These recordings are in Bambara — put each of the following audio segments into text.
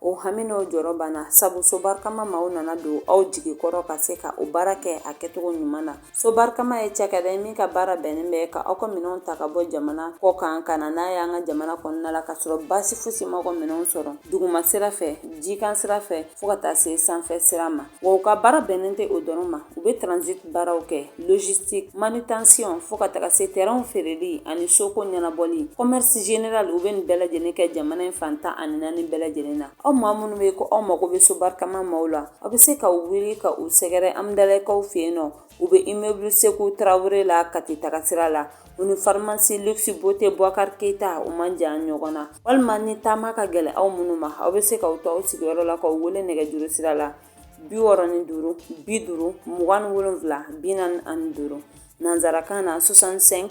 O hami n'o jɔrɔ banna sabu so barikama maaw nana don aw jigi kɔrɔ ka se ka o baara kɛ a kɛcogo ɲuman na. So barikama ye cakɛda ye min ka baara bɛnnen bɛ ka aw ka minɛnw ta ka bɔ jamana kɔ kan ka na n'a ye an ka jamana kɔnɔna la ka sɔrɔ baasi fosi ma aw ka minɛnw sɔrɔ duguma sira fɛ, jikan sira fɛ fo ka taa se sanfɛ sira ma. Wa u ka baara bɛnnen tɛ o dɔrɔn ma u bɛ transit baaraw kɛ logistique, manutention fo ka taga se terrain feereli ani soko ɲɛnabɔli commerce general u bɛ nin bɛɛ lajɛlen kɛ jamana in fan tan ani naani bɛɛ lajɛlen na. Aw maa minnu bɛ ko aw mago bɛ so barikama maaw la, aw bɛ se k'aw wuli ka u sɛgɛrɛ Hamdalaye kaw fɛ yen nɔ U bɛ immeuble Sekou Traore la Kati tagasira la, u ni pharmacie luxe beauté Boubacar Keita u man jan ɲɔgɔn na, walima ni taama ka gɛlɛn aw minnu ma, aw bɛ se k'aw to aw sigiyɔrɔ la k'u wele nɛgɛjuru sira la 65 50 27 45 nansarakan na 65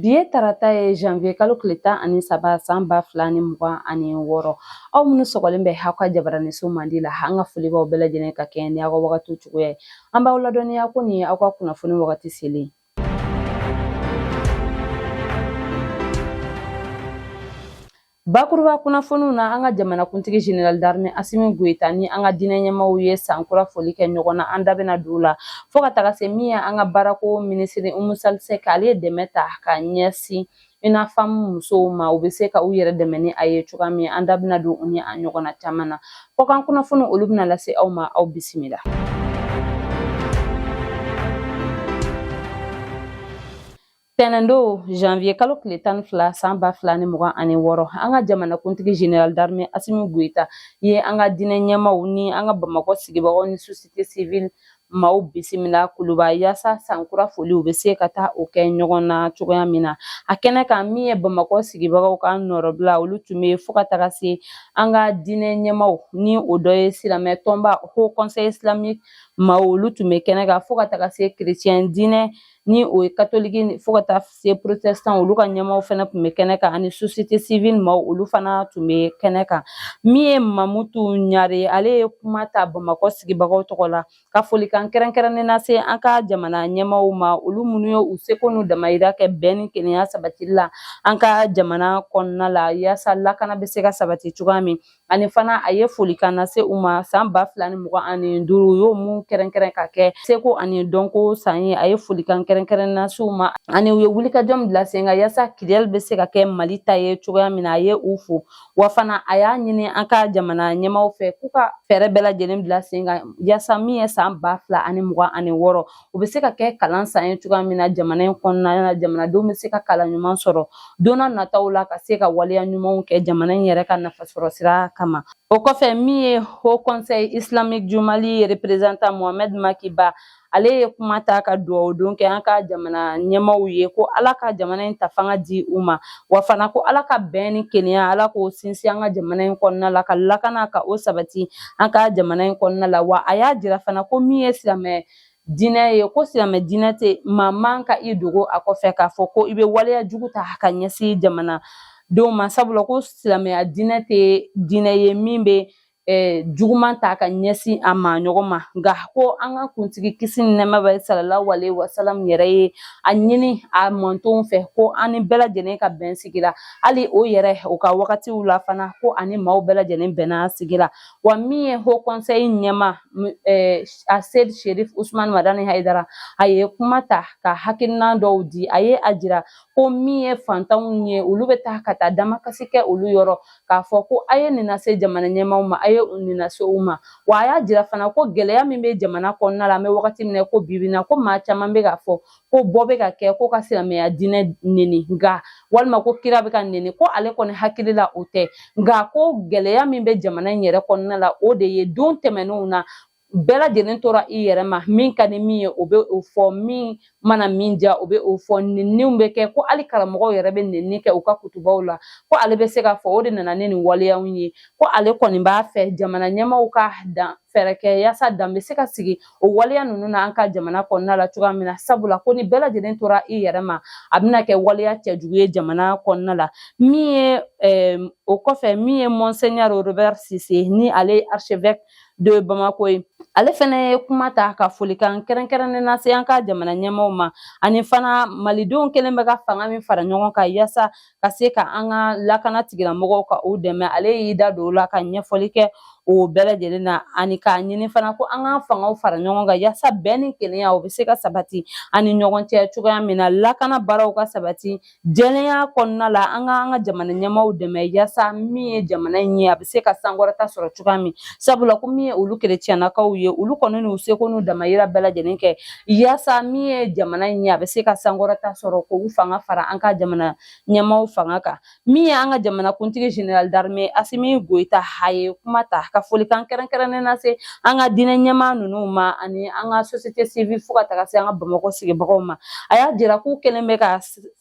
Bi ye tarata ye janvier kalo tile tan ani saba san ba fila ni mugan ani wɔɔrɔ aw minnu sɔgɔlen bɛ aw ka jabaraninso mandi la an ka foli b'aw bɛɛ lajɛlen ka kɛɲɛ ni aw ka wagati cogoya ye an b'aw ladɔnniya ko nin ye aw ka kunnafoni wagati selen Bakuruba kunnafoniw na an ka jamanakuntigi Zenerali daramɛ Asimi Goyita ni an ka diinɛ ɲɛmaaw ye san kura foli kɛ ɲɔgɔn na an da bɛna don o la fo ka taga se min ye an ka baarako minisiri Umu Sali Sɛki ale ye dɛmɛ ta ka ɲɛsin UNAFAM musow ma u bɛ se ka u yɛrɛ dɛmɛ ni a ye cogoya min an da bɛna don u ni a ɲɔgɔnna caman na kɔkan kunnafoni olu bɛna lase aw ma aw bisimila. Tɛnɛndo janvier kalo tile tan ni fila san ba fila ni mugan ani wɔɔrɔ an ka jamanakuntigi general d'armée asimi goyita ye an ka diinɛ ɲɛmaaw ni an ka bamakɔ sigibagaw ni société civile maaw bisimila kuluba yaasa san kura foliw bɛ se ka taa o kɛ ɲɔgɔn na cogoya min na a kɛnɛ kan min ye bamakɔ sigibagaw ka nɔrɔbila olu tun bɛ fo ka taga se an ka diinɛ ɲɛmaaw ni o dɔ ye silamɛ tɔnba haut conseil islamique maaw olu tun bɛ kɛnɛ kan fo ka taga se chrétien diinɛ ni o ye katoliki fo ka taa se porotesitanw olu ka ɲɛmaaw fana tun bɛ kɛnɛ kan ani sosiyete sivili maaw olu fana tun bɛ kɛnɛ kan min ye mamutu ɲare ale ye kuma ta bamakɔ sigibagaw tɔgɔ la ka folikan kɛrɛnkɛrɛnnen lase an ka jamana ɲɛmaaw ma olu minnu ye u seko n'u damayira kɛ bɛn ni kelenya sabatili la an ka jamana kɔnɔna la yaasa lakana bɛ se ka sabati cogoya min ani fana a ye folikan lase u ma san ba fila ni mugan ani duuru u y'o mun kɛrɛnkɛrɛn ka kɛ seko ani dɔnko san ye a ye folikan kɛrɛnkɛrɛn lase u ma ani u ye wulikajɔ min bila sen kan yaasa Kidali bɛ se ka kɛ mali ta ye cogoya min na a ye u fo wa fana a y'a ɲini an ka jamana ɲɛmaaw fɛ k'u ka fɛɛrɛ bɛɛ lajɛlen bila sen kan yaasa min ye san ba fila ani mugan ani wɔɔrɔ o bɛ se ka kɛ kalan san ye cogoya min na jamana in kɔnɔna na jamanadenw bɛ se ka kalan ɲuman sɔrɔ don n'a nataw la ka se ka waleya ɲumanw kɛ jamana in yɛrɛ ka nafasɔrɔ sira kama o kɔfɛ min ye haut conseil islamique du mali représentant mohamed makiba ale ye kuma ta ka dugawudon kɛ an ka jamana ɲɛmaaw ye ko ala ka jamana in ta fanga di u ma wa fana ko ala ka bɛn ni kelenya ala k'o sinsin an ka jamana in kɔnɔna la ka lakana ka o sabati an ka jamana in kɔnɔna la wa a y'a jira fana ko min ye silamɛ diinɛ ye ko silamɛ diinɛ tɛ maa man ka i dogo a kɔfɛ k'a fɔ ko i bɛ waleya jugu ta ka ɲɛsin jamana denw ma sabula ko silamɛya diinɛ tɛ diinɛ ye min bɛ eh, juguman ta ka ɲɛsin a maaɲɔgɔn ma nka ko an ka kuntigi kisi ni nɛɛma bɛ sallallahu alaihi wasallam yɛrɛ ye a ɲini a mantonw fɛ ko an ni bɛɛ lajɛlen ka bɛn sigi la hali o yɛrɛ o ka wagatiw la fana ko a ni maaw bɛɛ lajɛlen bɛnna sigi la wa min ye haut conseil ɲɛmaa aseid sherif usman madani haidara a ye kuma ta ka hakilinan dɔw di a ye a jira ko min ye fantanw ye olu bɛ taa ka taa damakasi kɛ olu yɔrɔ k'a fɔ ko a ye nin lase jamana ɲɛmaaw ma a ye nin lase u ma wa a y'a jira fana ko gɛlɛya min bɛ jamana kɔnɔna la an bɛ wagati min na ko bi bi in na ko maa caman bɛ k'a fɔ ko bɔ bɛ ka kɛ ko ka silamɛya diinɛ neni nka walima ko kira bɛ ka neni ko ale kɔni hakili la o tɛ nka ko gɛlɛya min bɛ jamana in yɛrɛ kɔnɔna la o de ye don tɛmɛnenw na bɛɛ lajɛlen tora i yɛrɛ ma min ka di min ye o bɛ o fɔ min mana min diya o bɛ o fɔ nenniw bɛ kɛ ko hali karamɔgɔw yɛrɛ bɛ nenni kɛ u ka kutubaw la ko ale bɛ se k'a fɔ o de nana ni nin waleyaw ye ko ale kɔni b'a fɛ jamana ɲɛmaaw ka dan fɛɛrɛ kɛ yaasa dan bɛ se ka sigi o waleya ninnu na an ka jamana kɔnɔna la cogoya min na sabula ko ni bɛɛ lajɛlen tora i yɛrɛ ma a bɛna kɛ waleya cɛjugu ye jamana kɔnɔna la min ye eh, o kɔfɛ min ye monseigneur robert cissé ni ale ye archevêque de bamako ye ale fana ye kuma ta ka folikan kɛrɛnkɛrɛnnen lase an ka jamana ɲɛmaaw ma ani fana malidenw kɛlen bɛ ka fanga min fara ɲɔgɔn kan yaasa ka se ka an ka lakana tigilamɔgɔw ka u dɛmɛ ale y'i da don o la ka ɲɛfɔli kɛ o bɛɛ lajɛlen na ani k'a ɲini fana ko an k'an fangaw fara ɲɔgɔn kan yaasa bɛn ni kelenya o bɛ se ka sabati an ni ɲɔgɔn cɛ cogoya min na lakana baaraw ka sabati jɛlenya kɔnɔna la an ka an ka jamana ɲɛmaaw dɛmɛ yaasa min ye jamana in ye a bɛ se ka sankɔrɔta sɔrɔ cogoya min sabula ko min ye olu kerecɛnnakaw ye olu kɔni n'u seko n'u damayira bɛɛ lajɛlen kɛ Yaasa min ye jamana in ye a bɛ se ka sankɔrɔta sɔrɔ k'u fanga fara an ka jamana ɲɛmaaw fanga kan min ye an ka jamanakuntigi général d'armée Asimi Goyita a ye kuma ta ka folikan kɛrɛnkɛrɛnnen lase an ka diinɛ ɲɛmaa ninnu ma ani an ka société civile fo ka taga se an ka Bamakɔ sigibagaw ma a y'a jira k'u kɛlen bɛ ka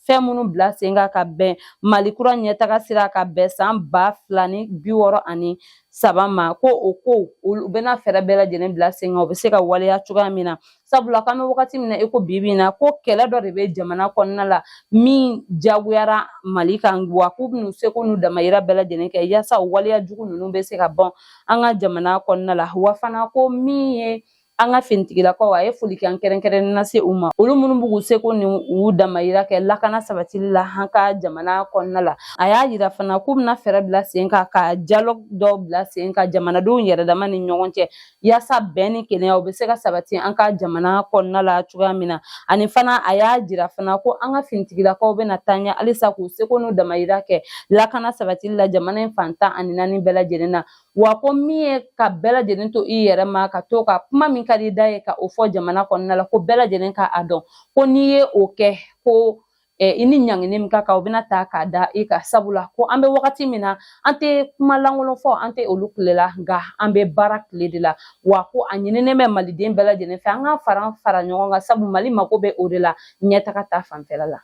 fɛn minnu bila sen kan ka bɛn Mali kura ɲɛtaga sira ka bɛn san ba fila ni bi wɔɔrɔ ani saba ma ko o ko u bɛna fɛɛrɛ bɛɛ lajɛlen bila sen kan u bɛ se ka waleya cogoya min na sabula k'an bɛ wagati min na i ko bi bi in na ko kɛlɛ dɔ de bɛ jamana kɔnɔna la min jagoyara mali kan wa k'u bɛn'u seko n'u damayira bɛɛ lajɛlen kɛ yaasa o waleya jugu ninnu bɛ se ka bɔn an ka jamana kɔnɔna la wa fana ko min ye an ka finitigilakaw a ye folikan kɛrɛnkɛrɛnnen lase u ma olu minnu b'u seko ni u damayira kɛ lakana sabatili la an ka jamana kɔnɔna la a y'a yira fana k'u bɛna fɛɛrɛ bila sen kan ka dialogue dɔw bila sen kan jamanadenw yɛrɛdama ni ɲɔgɔn cɛ yaasa bɛn ni kelenya o bɛ se ka sabati an ka jamana kɔnɔna la cogoya min na ani fana a y'a jira fana ko an ka finitigilakaw bɛna taa ɲɛ halisa k'u seko n'u damayira kɛ lakana sabatili la jamana in fan tan ani naani bɛɛ lajɛlen na wa ko min ye ka bɛɛ lajɛlen to i yɛrɛ ma ka to ka kuma min ka di da ye ka o fɔ jamana kɔnɔna la ko bɛɛ lajɛlen ka a dɔn ko n'i ye o kɛ ko eh, i ni ɲangini min ka kan o bɛna ta k'a da i kan sabula ko an bɛ wagati min na an tɛ kuma lankolon fɔ an tɛ olu tile la nka an bɛ baara tile de la wa ko a ɲininen bɛ maliden bɛɛ lajɛlen fɛ an ka fara fara ɲɔgɔn kan sabu mali mako bɛ o de la ɲɛtaga ta fanfɛla la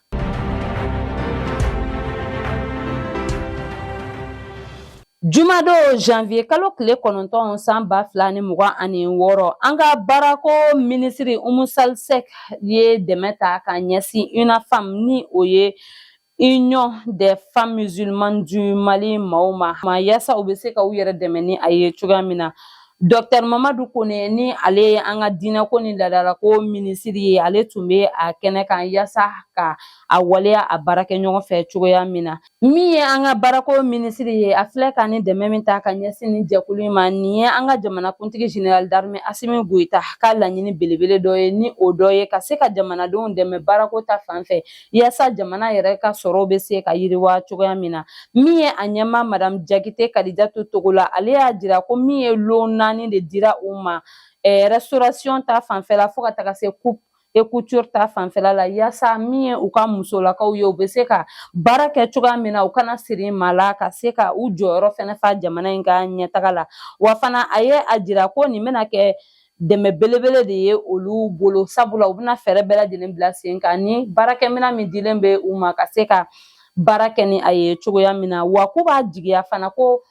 Jumadon janvier kalo tile kɔnɔntɔn san ba fila ni mugan ani wɔɔrɔ an ka baarako minisiri umu sal sɛk ye dɛmɛ ta ka ɲɛsin UNAFEM ni o ye union des femmes musulmanes du mali maaw ma ma yaasa u bɛ se ka u yɛrɛ dɛmɛ ni a ye cogoya min na docteur mamadu kone ni ale ye an ka diinɛko ni ladalako minisiri ye ale tun bɛ a kɛnɛ kan yaasa ka a waleya a baarakɛɲɔgɔn fɛ cogoya min na Min ye an ka baarako minisiri ye a filɛ ka nin dɛmɛ min ta ka ɲɛsin nin jɛkulu in ma nin ye an ka jamanakuntigi jenerali darime asimi goyita ka laɲini belebele dɔ ye ni o dɔ ye ka se ka jamanadenw dɛmɛ baarako ta fan fɛ yaasa jamana yɛrɛ ka sɔrɔw bɛ se ka yiriwa cogoya min na min ye a ɲɛmaa madamu jakite kadijatu togola ale y'a jira ko min ye lon naani de dira u ma eh, restauration ta fanfɛla fo ka taga se coupe et couture ta fanfɛla la yaasa min ye u ka musolakaw ye u bɛ se ka baara kɛ cogoya min na u kana siri maa la ka se ka u jɔyɔrɔ fɛnɛ fa jamana in ka ɲɛtaga la wa fana a ye a jira ko nin bɛna kɛ dɛmɛ belebele de ye olu bolo sabula u bɛna fɛɛrɛ bɛɛ lajɛlen bila sen kan ni baarakɛminɛn min dilen bɛ u ma ka se ka baara kɛ ni a ye cogoya min na wa k'u b'a jigiya fana ko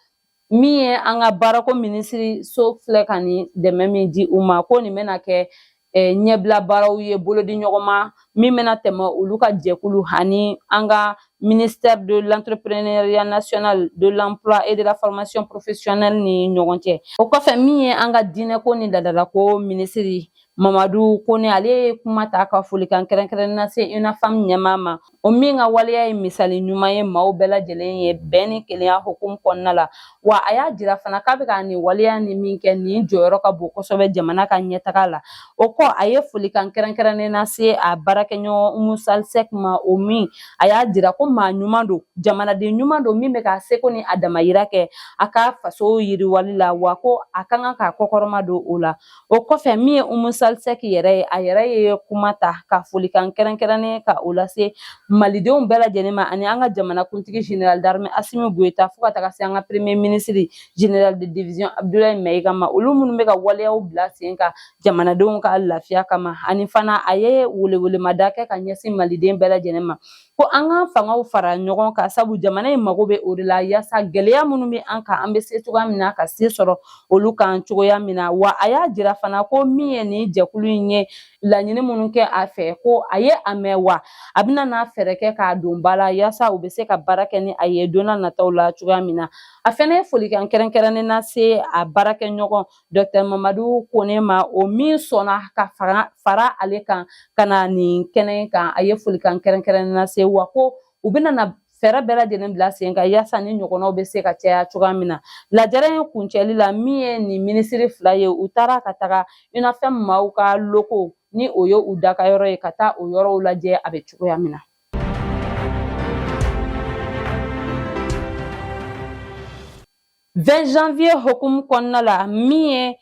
min ye an ka baarako minisiriso filɛ ka nin dɛmɛ min di u ma ko nin bɛna kɛ eh, ɲɛbila baaraw ye bolodiɲɔgɔnma min bɛna tɛmɛ olu ka jɛkulu ani an ka ministère de l'entrepreneuriat national de l'emploi et de la formation professionnelle ni ɲɔgɔn cɛ o kɔfɛ min ye an ka diinɛko ni ladalako minisiri mamadu kone ale ye kuma ta ka folikan kɛrɛnkɛrɛnnen lase unafem ɲɛmaa ma o min ka waleya ye misali ɲuman ye maaw bɛɛ lajɛlen ye bɛn ni kelenya hukumu kɔnɔna la wa a y'a jira fana k'a bɛ ka nin waleya ni min kɛ nin jɔyɔrɔ ka bon kosɛbɛ jamana ka ɲɛtaga la o kɔ a ye folikan kɛrɛnkɛrɛnnen lase a baarakɛɲɔgɔn umu sal sɛk ma o min a y'a jira ko maa ɲuman don jamanaden ɲuman don min bɛ k'a seko ni a damayira kɛ a ka faso yiriwali la wa ko a ka kan ka kɔkɔrɔma don o la o kɔfɛ min ye umu sal sɛk yɛrɛ ye a yɛrɛ ye kuma ta ka folikan kɛrɛnkɛrɛnnen ka o lase malidenw bɛɛ lajɛlen ma ani an ka jamanakuntigi général d'armée asimi goyita fo ka taga se an ka premier ministre général de division abdulayi mayiga ma olu minnu bɛ ka waleyaw bila sen kan jamanadenw ka lafiya kama ani fana a ye welewelemada kɛ ka ɲɛsin maliden bɛɛ lajɛlen ma ko an ka fangaw fara ɲɔgɔn kan sabu jamana in mago bɛ o de la yaasa gɛlɛya minnu bɛ an kan an bɛ se cogoya min na ka se sɔrɔ olu kan cogoya min na wa a y'a jira fana ko min ye nin jɛkulu in ye laɲini minnu kɛ a fɛ ko a ye a mɛn wa a bɛna n'a fɛɛrɛ kɛ k'a don ba la yaasa u bɛ se ka baara kɛ ni a ye don na nataw la cogoya min na a fɛnɛ ye folikan kɛrɛnkɛrɛnnen lase a baarakɛɲɔgɔn Dɔtɛr mamadu kone ma o min sɔnna ka fara ale kan ka na nin kɛnɛ kan a ye folikan kɛrɛnkɛrɛnnen lase wa ko u bɛna na fɛɛrɛ bɛɛ lajɛlen bila sen kan yaasa nin ɲɔgɔnnaw bɛ se ka caya cogoya min na lajɛrɛ in kuncɛli la min ye nin minisiri fila ye u taara ka taga unafem maaw ka locaux ni o ye u dagayɔrɔ ye ka taa o yɔrɔw lajɛ a bɛ cogoya min na 20 janvier hukumu kɔnɔna la min ye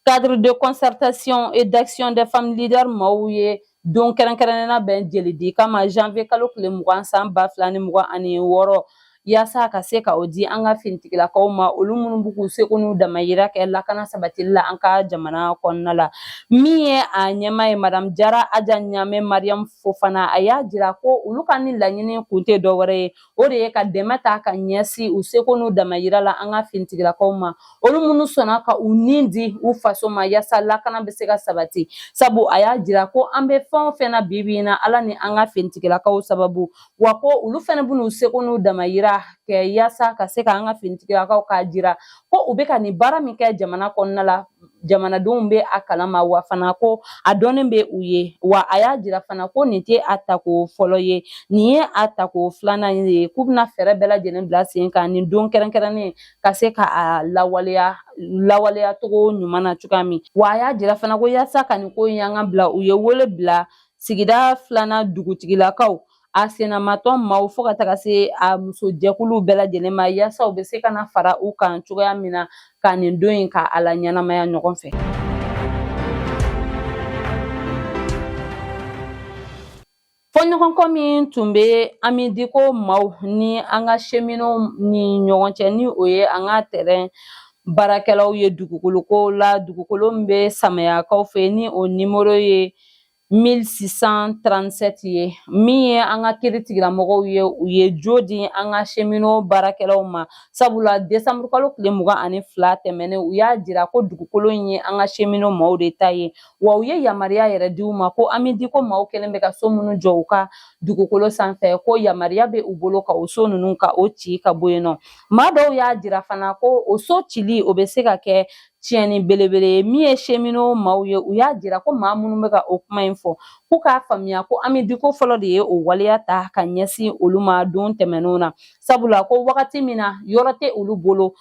cadre de concertation et d'action des femmes leaders maaw ye don kɛrɛnkɛrɛnnen labɛn jelidi kama janvier kalo tile mugan san ba fila ni mugan ani wɔɔrɔ yaasa ka se ka o di an ka finitigilakaw ma olu minnu bɛ k'u seko n'u damayira kɛ lakana sabatili la an ka jamana kɔnɔna la min ye a ɲɛmaa ye madamu jara aja ɲame mariyamu fofana a y'a jira ko olu ka nin laɲini kun tɛ dɔwɛrɛ ye o de ye ka dɛmɛ ta ka ɲɛsin u seko n'u damayira la an ka finitigilakaw ma olu minnu sɔnna ka u ni di u faso ma yaasa lakana bɛ se ka sabati sabu a y'a jira ko an bɛ fɛn o fɛn na bibi in na ala ni an ka finitigilakaw sababu wa ko olu fana bɛn'u seko n'u damayira kɛ yaasa ka se ka an ka finitigilakaw k'a jira ko u bɛ ka nin baara min kɛ jamana kɔnɔna la jamanadenw bɛ a kalama wa fana ko a dɔnnen bɛ u ye wa a y'a jira fana ko nin tɛ a tako fɔlɔ ye nin ye a tako filanan ye k'u bɛna fɛɛrɛ bɛɛ lajɛlen bila sen kan nin don kɛrɛnkɛrɛnnen ka se ka a lawaleya lawaleya cogo ɲuman na cogoya min wa a y'a jira fana ko yaasa ka nin ko in y'an ka bila u ye wele bila sigida filanan dugutigilakaw a sennamatɔ maaw fo ka taga se a muso jɛkuluw bɛɛ lajɛlen ma yaasa u bɛ se ka na fara u kan cogoya min na ka nin don in ka a laɲɛnamaya ɲɔgɔn fɛ fɔɲɔgɔnkɔ min tun bɛ amidiko maaw ni an ka seminow ni ɲɔgɔn cɛ ni o ye an ka tɛrɛn baarakɛlaw ye dugukolo ko la dugukolo min bɛ samayakaw fɛ ni o nimoro ye 1637 ye min ye an ka kiri tigilamɔgɔw ye u ye jo di an ka semino baarakɛlaw ma sabula desanburu kalo tile mugan ani fila tɛmɛnen u y'a jira ko dugukolo in ye an ka semino maaw de ta ye wa u ye yamaruya yɛrɛ di u ma ko amidiko maaw kɛlen bɛ ka so minnu jɔ u ka dugukolo sanfɛ ko yamaruya bɛ u bolo ka o so ninnu ka o ci ka bɔ yen nɔ maa dɔw y'a jira fana ko o so cili o bɛ se ka kɛ tiɲɛni belebele ye min ye semino maaw ye u y'a jira ko maa minnu bɛ ka o kuma in fɔ k'u k'a faamuya ko amidiko fɔlɔ de ye o waleya ta ka ɲɛsin olu ma don tɛmɛnenw na sabula ko wagati min na yɔrɔ tɛ olu bolo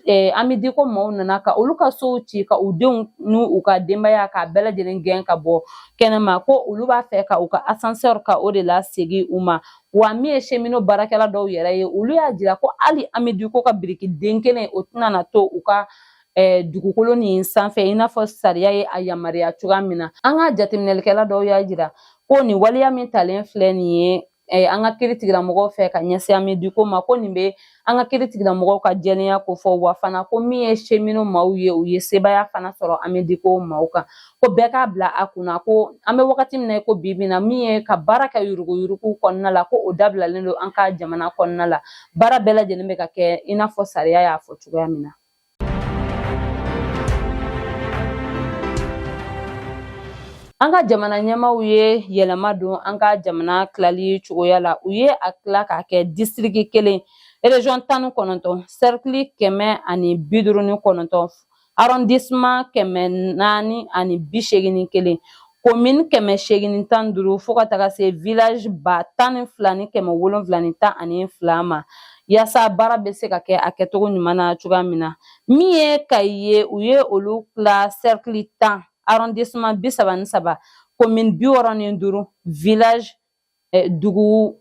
Eh, amidiko maaw nana ka olu ka sow ci ka u denw ni u ka denbaya k'a bɛɛ lajɛlen gɛn ka bɔ kɛnɛma ko olu b'a fɛ ka u ka asansɛri ka o de lasegin u ma Wa min ye semino baarakɛla dɔw yɛrɛ ye olu y'a jira ko hali amidiko ka biriki den kelen o tɛna na to u ka eh, dugukolo nin sanfɛ i n'a fɔ sariya ye a yamaruya cogoya min na an ka jateminɛlikɛla dɔw y'a jira ko nin waleya min talen filɛ nin ye eh, an ka kiri tigilamɔgɔw fɛ ka ɲɛsin amidiko ma ko nin bɛ an ka kiri tigilamɔgɔw ka jɛlenya kofɔ wa fana ko min ye semino maaw ye u ye sebaya fana sɔrɔ amidiko maaw kan ko bɛɛ k'a bila a kunna ko an bɛ wagati min na ko bi bi in na min ye ka baara kɛ yuruguyurugu kɔnɔna la ko o dabilalen don an ka jamana kɔnɔna la baara bɛɛ lajɛlen bɛ ka kɛ i n'a fɔ sariya y'a fɔ cogoya min na An ka jamana ɲɛmaaw ye yɛlɛma don an ka jamana tilali cogoya la u ye a tila k'a kɛ disitiriki kelen erezɔn tan ni kɔnɔntɔn sɛrikili kɛmɛ ani bi duuru ni kɔnɔntɔn arɔndisiman kɛmɛ naani ani bi seegin ni kelen komin kɛmɛ seegin ni tan ni duuru fo ka taga se village ba tan ni fila ni kɛmɛ wolonfila ni tan ani fila ma yaasa baara bɛ se ka kɛ a kɛcogo ɲuman na cogoya min na min ye kayi ye u ye olu tila cercle tan arrondissement bi saba ni saba komin bi wɔɔrɔ ni duuru village dugu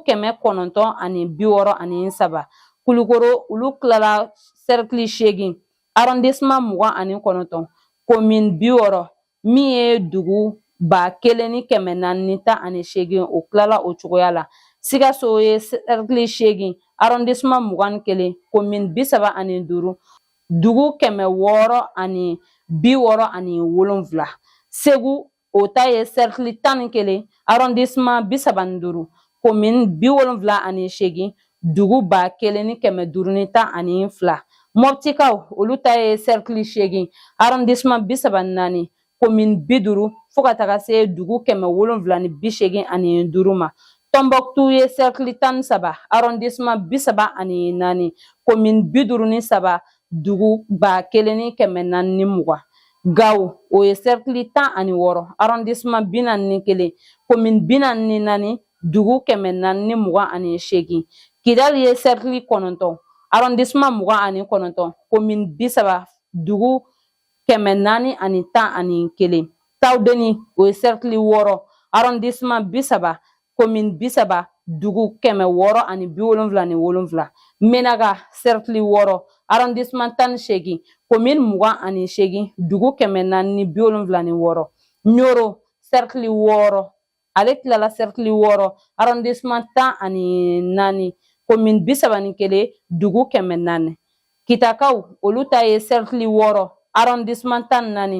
kɛmɛ kɔnɔntɔn ani bi wɔɔrɔ ani saba kulukoro olu tilala sɛrikili seegin arɔndesiman mugan ani kɔnɔntɔn komin bi wɔɔrɔ min ye dugu ba kelen ni kɛmɛ naani ni tan ani seegin o tilala o cogoya la sikaso ye sɛrikili seegin arɔndesiman mugan ni kelen komin bi saba ani duuru dugu kɛmɛ wɔɔrɔ ani bi wɔɔrɔ ani wolonfila segu o ta ye sɛrikili tan ni kelen arɔndisiman bi saba ni duuru komin bi wolonfila ani seegin dugu ba kelen ni kɛmɛ duuru ni tan ani fila mɔptikaw olu ta ye sɛrikili seegin arɔndisiman bi saba ni naani komin bi duuru fo ka taga se dugu kɛmɛ wolonfila ni bi seegin ani duuru ma tɔnbɔkutu ye sɛrikili tan ni saba arɔndisiman bi saba ani naani komin bi duuru ni saba dugu ba kelen ni kɛmɛ naani ni mugan Gawo o ye sɛrikili tan ani wɔɔrɔ arɔndisiman bi naani ni kelen komin bi naani ni naani dugu kɛmɛ naani ni mugan ani seegin kidali ye sɛrikili kɔnɔntɔn arɔndisiman mugan ani kɔnɔntɔn komin bi saba dugu kɛmɛ naani ani tan ani kelen tawudeni o ye sɛrikili wɔɔrɔ arɔndisiman bi saba komin bi saba dugu kɛmɛ wɔɔrɔ ani bi wolonfila ni wolonfila menaga sɛrikili wɔɔrɔ arɔndisman tan ni seegin komin mugan ani seegin dugu kɛmɛ naani ni bi wolonfila ni wɔɔrɔ ɲoro sɛrikili wɔɔrɔ ale tilala sɛrikili wɔɔrɔ arɔndisman tan ani naani komin bi saba ni kelen dugu kɛmɛ naani kitakaw olu ta ye sɛrikili wɔɔrɔ arɔndisiman tan ni naani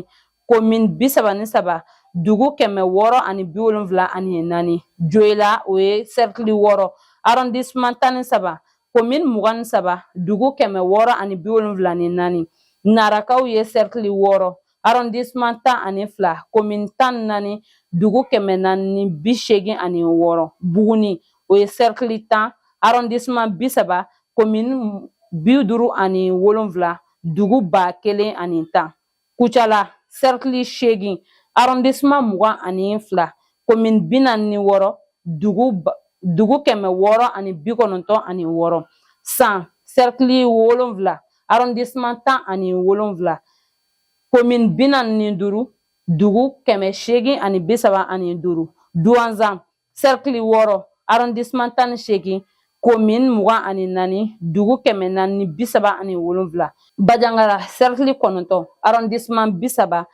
komin bi saba ni saba dugu kɛmɛ wɔɔrɔ ani bi wolonfila ani naani joyila o ye sɛrikili wɔɔrɔ arɔndisiman tan ni saba komin mugan ni saba dugu kɛmɛ wɔɔrɔ ani bi wolonfila ni naani narakaw ye sɛrikili wɔɔrɔ arɔndisman tan ani fila komin tan ni naani dugu kɛmɛ naani ni bi seegin ani wɔɔrɔ buguni o ye sɛrikili tan arɔndisman bi saba komin bi duuru ani wolonfila dugu ba kelen ani tan kucala sɛrikili seegin arɔndisman mugan ani fila komin bi naani ni wɔɔrɔ dugu kɛmɛ wɔɔrɔ ani bi kɔnɔntɔn ani wɔɔrɔ san sɛrikili wolonfila arɔndisman tan ani wolonfila komin bi naani ni duuru dugu kɛmɛ seegin ani bi saba ani duuru duwanzan sɛrikili wɔɔrɔ arɔndisiman tan ni seegin komin mugan ani naani dugu kɛmɛ naani ni bi saba ani wolonwula bajangara sɛrikili kɔnɔntɔn arɔndisiman bi saba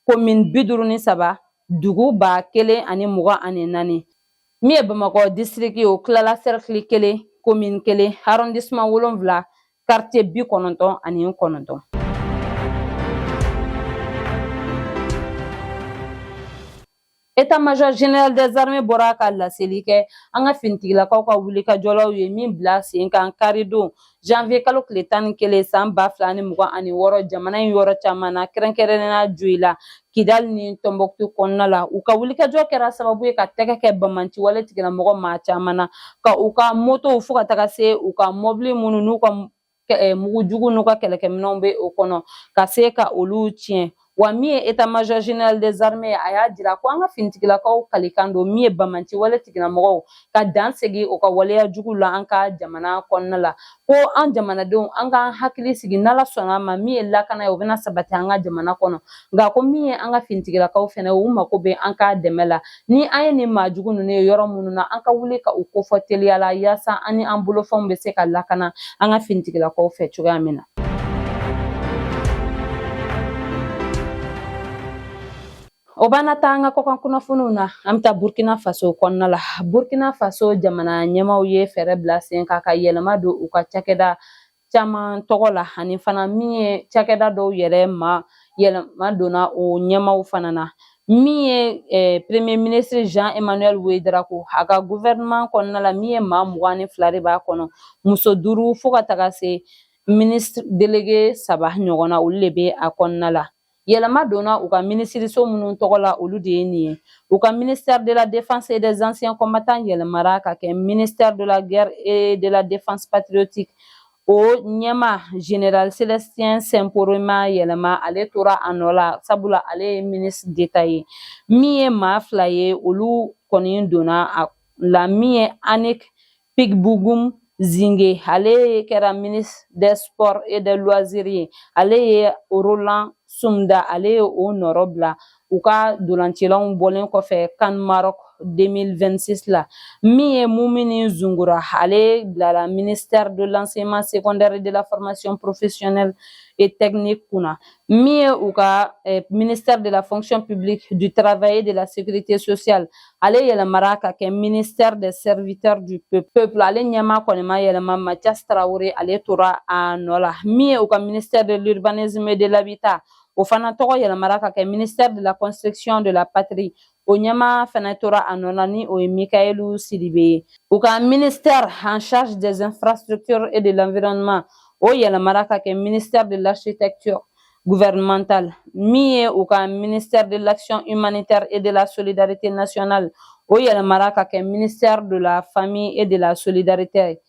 komin bi duuru ni saba dugu ba kelen ani mugan ani naani min ye bamakɔ disitiriki o tilala sɛrikili kelen komin kelen arɔndisiman wolonwula karitiye bi kɔnɔntɔn ani kɔnɔntɔn État major général des armées bɔra ka laseli kɛ an ka finitigilakaw ka wulikajɔ la u ye min bila sen kan karidon janvier kalo tile tan ni kelen san ba fila ni mugan ani wɔɔrɔ jamana in yɔrɔ caman na kɛrɛnkɛrɛnnenya joyila Kidali ni Tɔnbɔkutu kɔnɔna la u ka wulikajɔ kɛra sababu ye ka tɛgɛ kɛ bamanci wale tigilamɔgɔ maa caman na ka u ka motow fo ka taga se u ka mɔbili minnu n'u ka eh, mugu jugu n'u ka kɛlɛkɛminɛnw bɛ o kɔnɔ ka se ka olu tiɲɛ wa min ye état major général des armées a y'a jira ko an ka finitigilakaw kalikan don min ye bamanci wale tigilamɔgɔw ka dan sigi u ka waleya jugu la an ka jamana kɔnɔna la ko an jamanadenw an k'an hakili sigi n'Ala sɔnna a ma min ye lakana ye o bɛna sabati an ka jamana kɔnɔ nka ko min ye an ka finitigilakaw fɛnɛ u mako bɛ an ka dɛmɛ la ni an ye nin maa jugu ninnu ye yɔrɔ minnu na an ka wuli ka u kofɔ teliya la yaasa an ni an bolofɛnw bɛ se ka lakana an ka finitigilakaw fɛ cogoya min na O b'an taa an ka kɔkan kunnafoniw na an bɛ taa burukina faso kɔnɔna la burukina faso jamana ɲɛmaaw ye fɛɛrɛ bila sen kan ka yɛlɛma don u ka cakɛda caman tɔgɔ la ani fana min ye cakɛda dɔw yɛrɛ ma yɛlɛma donna o ɲɛmaaw fana na min ye eh, premier ministre jean emmanuel ouédraogo a ka gouvernement kɔnɔna la min ye maa mugan ni fila de b'a kɔnɔ muso duuru fo ka taga se ministre délégué saba ɲɔgɔn na olu de bɛ a kɔnɔna la Yɛlɛma donna u ka minisiriso minnu tɔgɔ la olu de ye nin ye u ka ministère de la défense et des anciens combattants yɛlɛmara ka kɛ ministère de la guerre et de la défense patriotique o ɲɛmaa général célestin simporé ma yɛlɛma ale tora a nɔ la sabula ale ye ministre d'état ye min ye maa fila ye olu kɔni donna a la min ye annick Pikbougoum Zingué ale ye kɛra ministre des sports et des loisirs ye ale ye Roland Somda ale ye o nɔrɔbila u ka ntolacilaw bɔlen kɔfɛ CAN Maroc 2026 la min ye Moumouni Zoungrana ale bilala ministère de l'enseignement secondaire et de la formation professionnelle et technique kunna min ye u ka eh, ministère de la fonction publique du travail et de la sécurité sociale ale yɛlɛmara ka kɛ ministère des serviteurs du peuple ale ɲɛmaa kɔni ma yɛlɛma mathias traoré ale tora a nɔ la min ye u ka ministère de l'urbanisme et de l'habitat o fana tɔgɔ yɛlɛmara ka kɛ ministère de la construction de la patrie o ɲɛmaa fana tora a nɔ na ni o ye mikaïlou sidibé ye u ka ministère en charge des infrastructures et de l'environnement o yɛlɛmara ka kɛ ministère de l'architecture gouvernementale min ye u ka ministère de l'action humanitaire et de la solidarité nationale o yɛlɛmara ka kɛ ministère de la famille et de la solidarité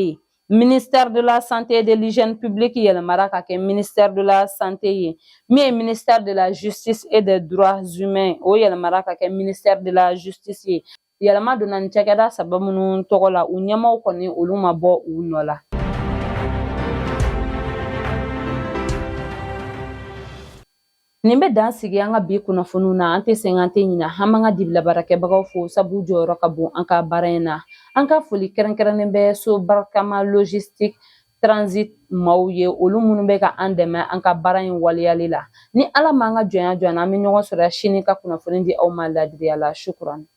ye Ministère de la santé et de l'hygiène publique yɛlɛmara ka kɛ ministère de la santé ye min ye ministère de la justice et des droits humains o yɛlɛmara ka kɛ ministère de la justice ye yɛlɛma donna nin cakɛda saba minnu tɔgɔ la u ɲɛmaaw kɔni olu ma bɔ u nɔ la Nin bɛ dan sigi an ka bi kunnafoniw na an tɛ sɛgɛn an tɛ ɲinɛ an ma an ka dibilabaarakɛbagaw fo sabu jɔyɔrɔ ka bon an ka baara in na an ka foli kɛrɛnkɛrɛnnen bɛ so barikama logistique transit maaw ye olu minnu bɛ ka an dɛmɛ an ka baara in waleyali la ni ala ma an ka jɔnya jɔ an na an bɛ ɲɔgɔn sɔrɔ sini ka kunnafoni di aw ma ladiriya la shukuran